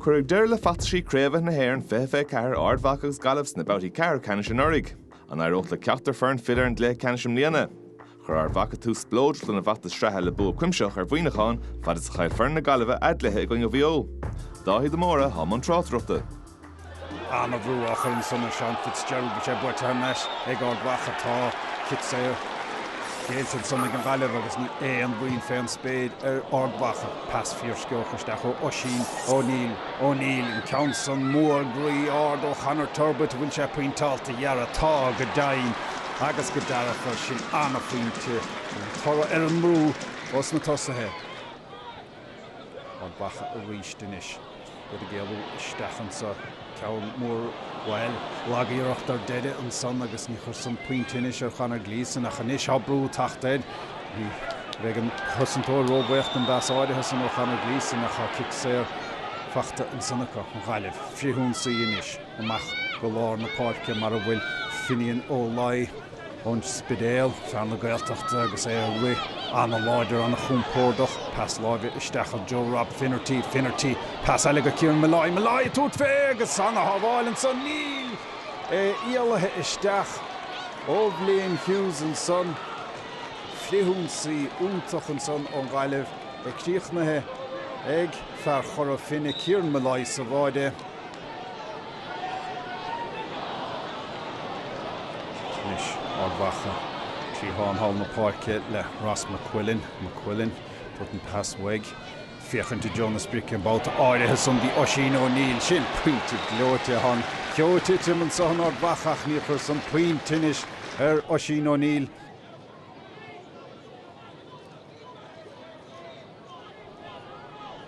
Cuireadh deireadh le feachtaisí Craobhacha na hÉireann 2024, Ard Mhacha agus Gaillimh sna babhtaí ceathrú ceannais anuraidh. An éireoidh le ceachtar foireann filleadh ar an gcluiche ceannais i mbliana? Chuir Ard Mhacha tús spleodrach lena bhfeachtas sraithe le bua cuimsitheach ar Mhuineachán, fad is a chaill foireann na Gaillimhe a gcluiche i gcoinne Mhaigh Eo. Dáithí de Mórdha, i mbun tráchtaireachta. Ana bhrú ansan ar Sheán Fitzgerald. Bhí sé buailte thar n-ais ag Ard Mhacha. Tá cic saor géillte ansan ag an nGaillimh agus ní h-aon mhoill fé an spéir ar Ard Mhacha. Pas fíor sciobhach isteach ó Oisín Ó Neill. Ó Neill, an ceann san mór groí árd ó Chonor Turbitt. An bhfuil sé pointeáilte a dhóthain? Tá, go deimhin agus go dearfa. Sin ana phointe. An toradh ar an mbrú ó sna tosaithe. Ard Mhacha arís anois. Iad ag éalú isteach anso. Ceann mór, bhuel, lag-iarracht ar deireadh ansan agus ní chuir san puinn tinnis ar Chonor Gleeson ach anois tá brú taghta air. Ní bheidh an cosantóir ró-bhaoch don bpas áirithe san ó Chonor Gleeson ach tá cic saor faighte ansan acu, an Ghaillimh. Frithionsaí anois amach go lár na páirce mar a bhfuil Finian Ó Laoi. ón Spidéal, fear na Gaeltachta agus é ag rith an-láidir, an-chompordach, pas láimhe isteach chuig Rob Finnerty, Finnerty, pas eile go Kieran Molloy, Molloy ag tabhairt fé agus an-shábháil ansan, níl! é éalaithe isteach ó Bhlaine Hughes ansan, frithionsaí iontach ansan ón Ghaillimh, é críochnaithe ag fear Chora Finne, Kieran Molloy sa bháide. Ard Mhacha, cliathán thall na páirce le Ross McQuillan. McQuillan ag tabhairt an pas uaidh. Ag féachaint i dtreo na sprice an babhta áirithe san dtí Oisín Ó Neill. Sin pointe gleoite tá an ceo ag titim anso in Ard Mhacha ach ní chuir san puinn tinnis ar Oisín Ó Neill.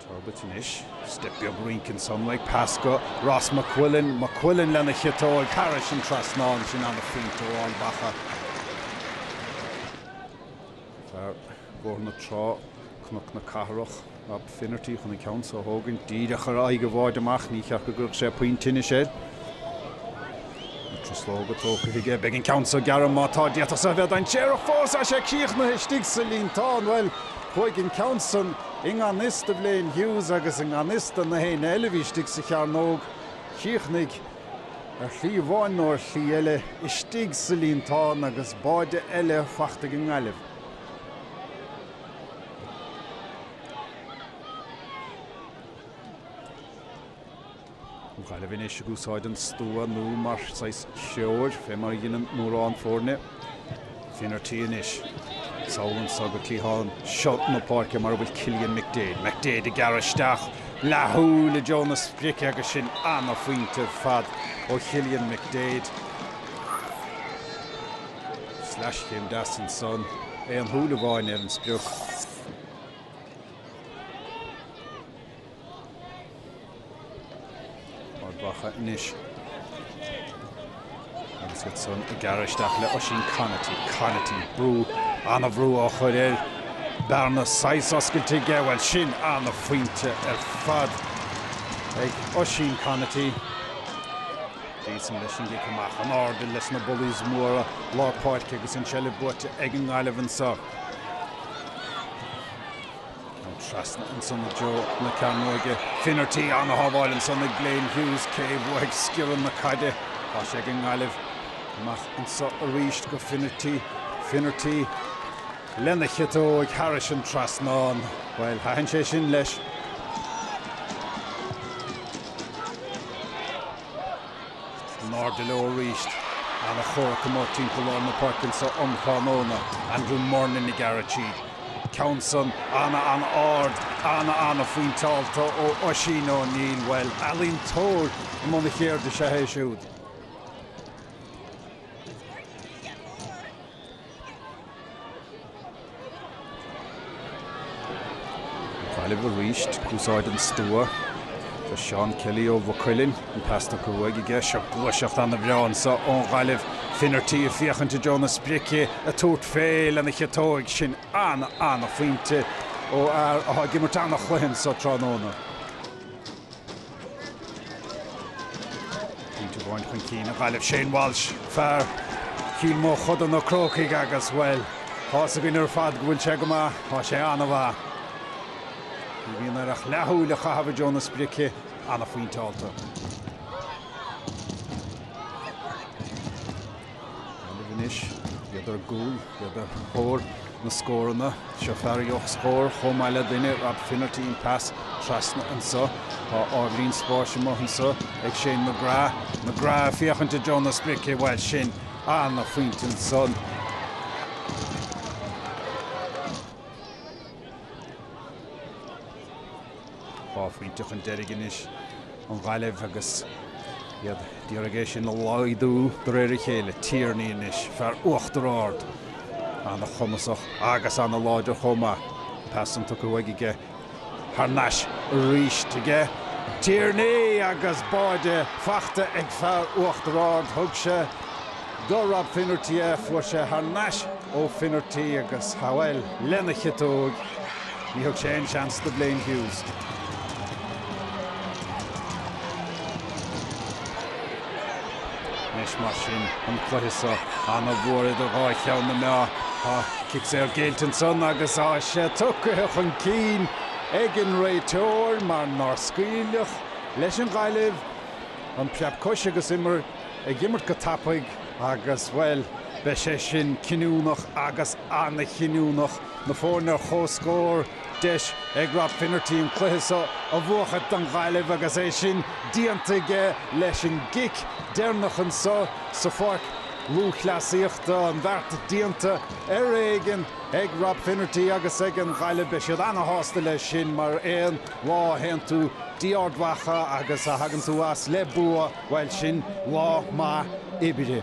Turbitt anois, step beag rince ansan aige pas go Ross McQuillan, McQuillan lena chiotóig thar an trasnán, sin ana phointe ó Ard Mhacha, fear Bhóthar na Trá, Cnoc na Cathrach, Rob Finnerty chun an ceann seo a thógaint, díreach ar aghaidh an bháide amach, ní cheart go gcuirfeadh sé puinn tinnis air. Na truslóga tógtha aige, beidh an ceann seo gearr má tá, d'fhéadfadh seo a bheith dainséarach fós, tá sé críochnaithe istigh sa líontán, bhuel, chuaigh an ceann san i ngan fhios do Bhlaine Hughes agus i ngan fhios do gach éinne eile a bhí istigh sa chearnóg, chríochnaigh ar shlí amháin nó ar shlí eile istigh sa líontán agus báide eile fachta ag an nGaillimh. Gaillimh anois ag úsáid an stua nua mar saghas treoir, fé mar a dheineann mórán foirne Finnerty anois. Sall anso go cliathán seo na páirce mar a bhfuil Cillian McDaid. McDaid ag gearradh isteach, leathshúil i dtreo na sprice agus sin ana-phointe ar fad ó Chillian McDaid. Sleaschéim deas ansan, aon tsúil amháin ar an sprioc. Ard Mhacha anois. Agus iadsan ag gearradh isteach le Oisín Conaty. Conaty, brú, an-bhrú á chur air. Bearna saghas oscailte aige, bhuel sin an-phointe ar fad ag Oisín Conaty. Gleeson leis an gcic amach, in airde leis na bullies móra lár páirce agus an seilbh buaite ag an nGaillimh anseo. An trasna ansan i dtreo na cearnóige. Finnerty an-shábháil ansan ag Blaine Hughes, cé a bhuafaidh sciorrann na caide? Tá sé ag an nGaillimh. Amach anso arís go Finnerty. Finnerty lena chiotóg thairis an trasnán. Bhuel, thaitin sé sin leis. n-airde leo arís. Ana chomhrac amuigh timpeall lár na páirce anseo um thráthnóna. Andrew Murnin ag gearradh tríd. Ceann san ana ana ard. Ana ana phointeáilte ó Oisín O'Neill. Bhuel, ealaíontóir i mbun a cheirde is ea é siúd. Gaillimh arís, ag úsáid an stua. Tá Seán Kelly ó Mhaigh Cuilinn, an pas tugtha uaidh aige. Seo gluaiseacht an-bhreá anseo ón nGaillimh. Finnerty ag féachaint i dtreo na sprice, ag tabhairt fé lena chiotóig. Sin an-an-phointe ó fhear atá ag imirt an-chluiche anseo tráthnóna. Pointe amháin chun cinn ag Gaillimh, Shane Walsh, fear Chill Mochuda, Na Crócaigh agus, bhuel, tá's againn ar fad go bhfuil sé go maith, tá sé an-mhaith. Ní bhíonn air ach leathshúil a chaitheamh i dtreo na sprice, an-phointeáilte. Gaillimh anois. Iad ar gcúl, iad ar thóir na scóranna. Seo fear a gheobhadh scór chomh maith le duine, Rob Finnerty, an pas trasna anseo. Tá ardlíon spáis amuigh anseo ag Shane McGrath. McGrath ag féachaint i dtreo na sprice, bhuel sin an-phointe ansan. Dhá phointe chun deiridh anois an Ghaillimh agus iad ag iarraidh é sin a laghdú de réir a chéile. Tierney anois, fear Uachtar Ard. An-chumasach agus an-láidir chomh maith. An pas san tugtha uaidh aige. Thar nais arís ag Tierney agus báide faighte ag fear Uachtar Ard. Thug se do Rob Finnerty a fuair sé thar n-ais ó Finnerty agus é a shábháil lena chiotóg. Ní thug sé aon seans do Blaine Hughes. Anois mar sin an cluiche so ana-mhór idir dhá cheann na meá. cic saor géillte ansan agus é tugtha chun cinn ag an réiteoir mar nár scaoileadh leis an Ghaillimh an phreab choise agus imir ag imirt go tapaidh agus, bhuel, beidh sé sin cinniúnach agus an-chinniúnach. Na foirne ar comhscór, deis ag Rob Finnerty an cluiche seo a bhuachaint don Ghaillimh agus é sin déanta aige leis an gcic deireanach anseo sa Pháirc Lúthchleasaíochta. An beart déanta ar éigean ag Rob Finnerty agus ag an Ghaillimh. Beidh siad ana-shásta leis sin mar aon lá a théann tú go dtí Ard Mhacha agus a thagann tú as le bua. Bhuel sin lá maith oibre.